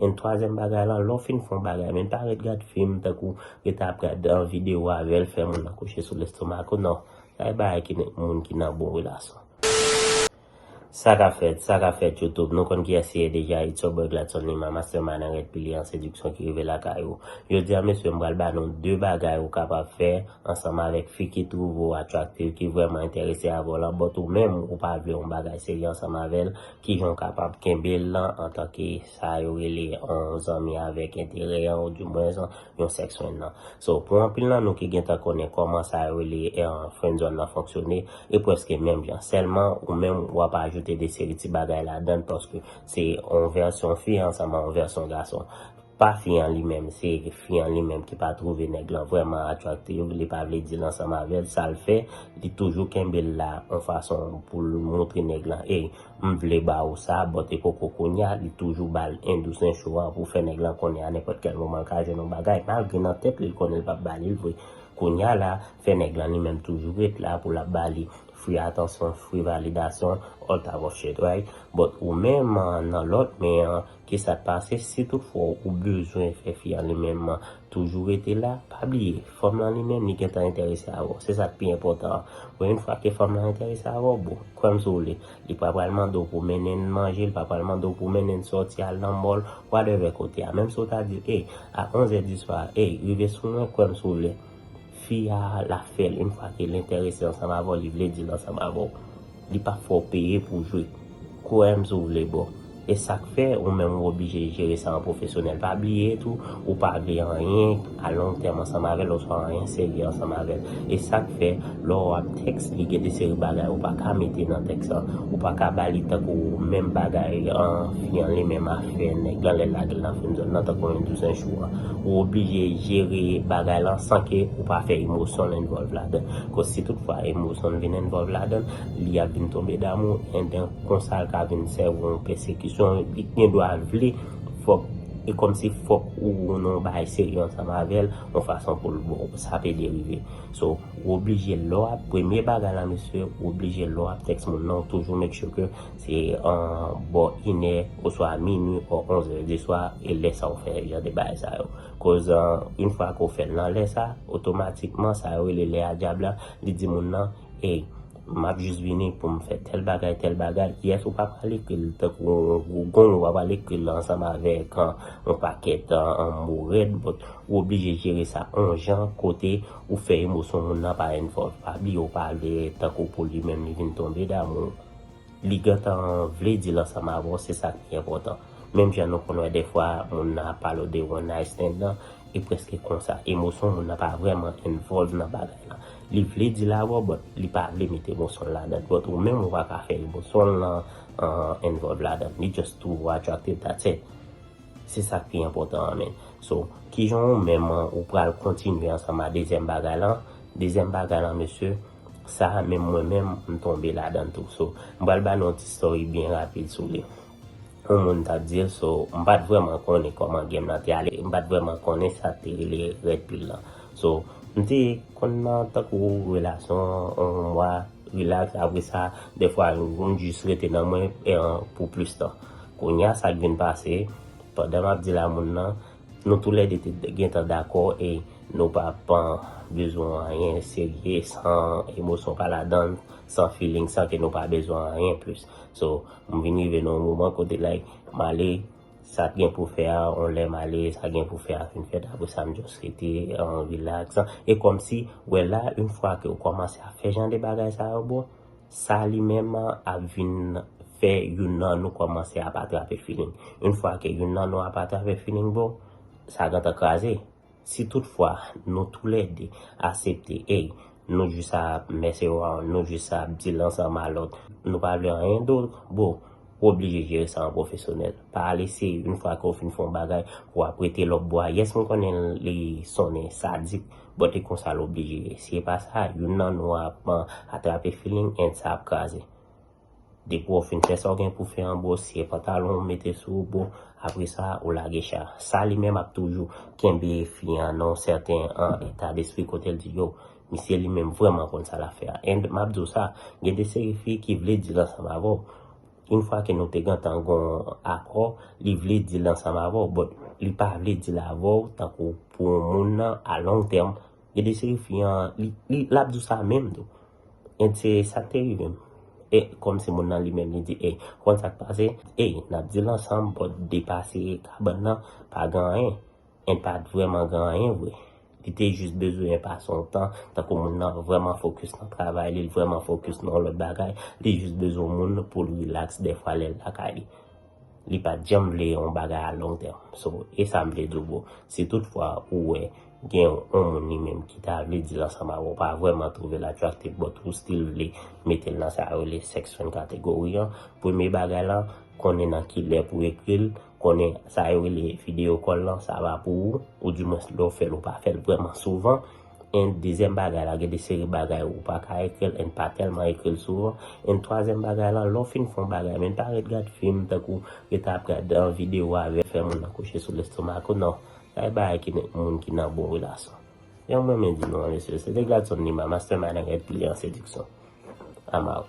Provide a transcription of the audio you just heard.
And twazyèm bagay lan lè w fin fè yon bagay men pa ret gad fim tankou ret ap gad video avèl fè moun nan kouche sou lestomak ou nan sa e bagay ki met moun ki nan bon relasyon sa ka fèt sa ka fèt youtube nou konn kiyès li ye deja it's your boy Gladson Lima mastermind an rèd pilier an sediksyon ki rive lakay ou jodi an mesye m pral ba nou 2 bagay ou kapab fè ansanm avèk fi ki twouve w attractive ki vrèman enterese avè w lan but ou menm ou pa vle yon bagay serye ansanm avèl Kijan w kapab kenbe l lan antanke sa yo rele yon zanmi avèk enterè an ou di mwens yon sèks fren lan. So, pou anpil nan nou ki gentan konnen kòman sa yo rele frenzòn lan fonksyone, e pwèske menm jan. Sèlman, ou menm w ap ajoute de seri ti bagay ladan l paske se yon vèsyon fi ansanm ak yon vèsyon gason. Pa fi an li menm se fi an li menm ki pa trouve nèg lan vrèman attractive li pa vle dil ansanm avèl sal fè li toujou kenbel la on fason poul moutre nèg lan ey m vle ba ou sa but e poko kounya li toujou bal en dous en cho an pou fè nèg lan konnen a nenpòt kèl moman l ka jwenn on bagay malgre nan tèt li l konnen l pap ba li l vre kounya la fè nèg lan li menm toujou ret la pou lap ba li free atansyon free validasyon all type of shit right but ou menm nan lòt men an Ki sa k pase si toutfwa ou bezwen fè fi an li menm toujou rete la? Pa bliye, fanm lan li menm li gentan enterese avè w. Se sa k pi enpòtan an. Bon yon fwa ke fanm lan enterese avè w, bon, kwè m si w vle, li pa pral mande w pou w mennen n manje, li pa pral mande w pou w mennen n sòti al nan mòl, whatever kote a. Menm si w ta di l, ey, a onzè diswa a, ey, rive sou mwen, kwè m si w vle, Fi a la fèl yn fwa kel entèrese ansanm avèw li vle dil ansanm avèw li pap fèw peye pou jwe kwèm si w vle boo esak fè ou menm ou oblije jere sa an pwofesyonèl pa bliye tou ou pa vle anyen a long tèm ansanm avèl oswa anyen serye ansanm avèl esak fè lè w ap Eksplike de seri bagay ou pa ka mete nan tèks la. Ou pa ka ba li tankou menm bagay an fi an li menm afè nèg lan lè l lage l nan frenzone lan tankou yon douzen jou a. Ou oblije jere bagay lan san ke ou pa fè emosyon l envòlv ladan. Koz si tout fwa emosyon l vin envòlv ladan, li ap vin tonbe damou enben konsa l ka vin sèvi w yon pèsekisyon li gen dwa vle fòk e kòmsi fòk ou nan yon bagay serye ansanm avè l yon fason pou l bo w. Sa pe derive. So. Ou oblije lè w ap premye bagay la mesye ou oblije lè w ap text moun nan ou toujou make sure ke se bò inè oswa minwi o onzè di swa e lè sa ou fè jan de bagay sa yo koz yn fwa ke w fè l nan lè sa otomatikman sa yo rele lè a dyab la li di moun nan ey m ap jis vini pou m fè tèl bagay tèl bagay yes ou pa pral ekri l tankou yon gwo gong ou pa pral ekri l ansanm avèk yon pakèt mo rèd but ou oblije jere sa yon jan kote Ou fè emosyon moun nan pa envolve Faby yo pale tankou pou li menm li vin tonbe damou w li gentan vle di l ansanm avè w se sa k pi enpòtan menm jan nou konn wè dèfwa moun nan ap pale w de one night stand lan e prèske konsa emosyon moun nan pa vrèman envolve nan bagay lan li vle di l avè w but li pa vle mete emosyon l ladan l but ou menm ou pa ka fè emosyon l lan envolve ladan l li just too attractive that's it. Se sak pi enpotan an menn. So kijan ou menm ou pral kontinye ansanm a dezyèm bagay lan, dezyèm bagay lan mesye sa menm mwen menm m tonbe ladann tou so m pral ba nou yon ti story byen rapid sou li. Yon moun tap dil so m pat vrèman konnen kòman game lan te ale m pat vrèman konnen sak te rele red pill lan so m te konn nan tankou relasyon yon mwa Relax apre sa dèfwa yon moun jis rete nan mwen pou plis tan. Kounya sa k vin pase, pandan m ap di la moun nan, nou tou lè de te gentan dakò e nou pa pan bezwen anyen serye san emosyon pa ladan l, san feeling, san ke nou pa bezwen anyen plis. So m vin rive nan yon moman kote like m ale. Sak gen pou fè a on lè m ale sa gen pou fè a fin fèt apre sa m just rete en relax e kòmsi ou wè la une fwa ke ou kòmanse ap fè jan de bagay sa yo bro sa li menm ap vin fè youn nan nou kòmanse ap atrape feeling une fwa ke youn nan nou ap atrape feeling bro sa gentan kraze. Si tout fwa nou tou lè 2 asepte ey nou jus a ap mess around nou jus a ap dil ansanm a lòt nou pa vle anyen dot bro ou oblije jere sa an profesyonèl pa ale se yn fwa ke w fin fè yon bagay pou w ap rete lòp bwa yes m konnen li sonnen sadik but e konsa l oblije ye si e pa sa youn nan nou ap atrape feeling and sa ap kraze. Depi w fin fè sa w gen pou fè an bro w siye pantalon w mete sou ou bro apresa ou lage cha sa li menm ap toujou kenbe fi an nan yon sèten eta despri kote l di yo misye li menm vrèman konn sa l ap fè a and m ap di w sa gen de seri fi ki vle dil ansanm avè w yn fwa ke nou te gentan gon akò li vle dil ansanm avè w but li pa vle dil avè w tankou pou yon moun nan a long term gen de seri fi an li l ap di w sa menm tou. And se sak te rive m. Eh komsi moun nan li menm li di eh ou konn sak pase eh nap dil ansanm but depase kabann nan pa gen anyen and pat vreman gen anyen vre li te jus bezwen pase yon tan tankou moun nan vreman focus nan travay li l vreman focus nan yon lot bagay li jus bezwen yon moun poul relax dèfwa lèl lakay li. Li pat janm vle yon bagay a long term. So, e sa m vle di w bro, si tout fwa ou wè gen yon moun li menm ki ta vle deal ansanm avè w, ou pa vrèman twouve l attractive but ou still vle mete l nan sa yo rele sex friend category an, premye bagay lan, konnen nan ki lè pou ekri l, konnen sa yo rele video call lan, sa va pou ou, ou di mwens lè w fè l ou pa fè l vrèman souvan, And dezyèm bagay la gen de seri bagay ou pa ka ekril and pa tèlman ekril souvan and twazyèm bagay la lè w fin fè yon bagay menn pa ret gad fim tankou rete ap gad video avè fè moun nan kouche sou lestomak ou nan bay bagay ki met moun ki nan bon relasyon janm renmen di nou an mesye se te Gladson Lima mastermind and reptilian seduction I'm out.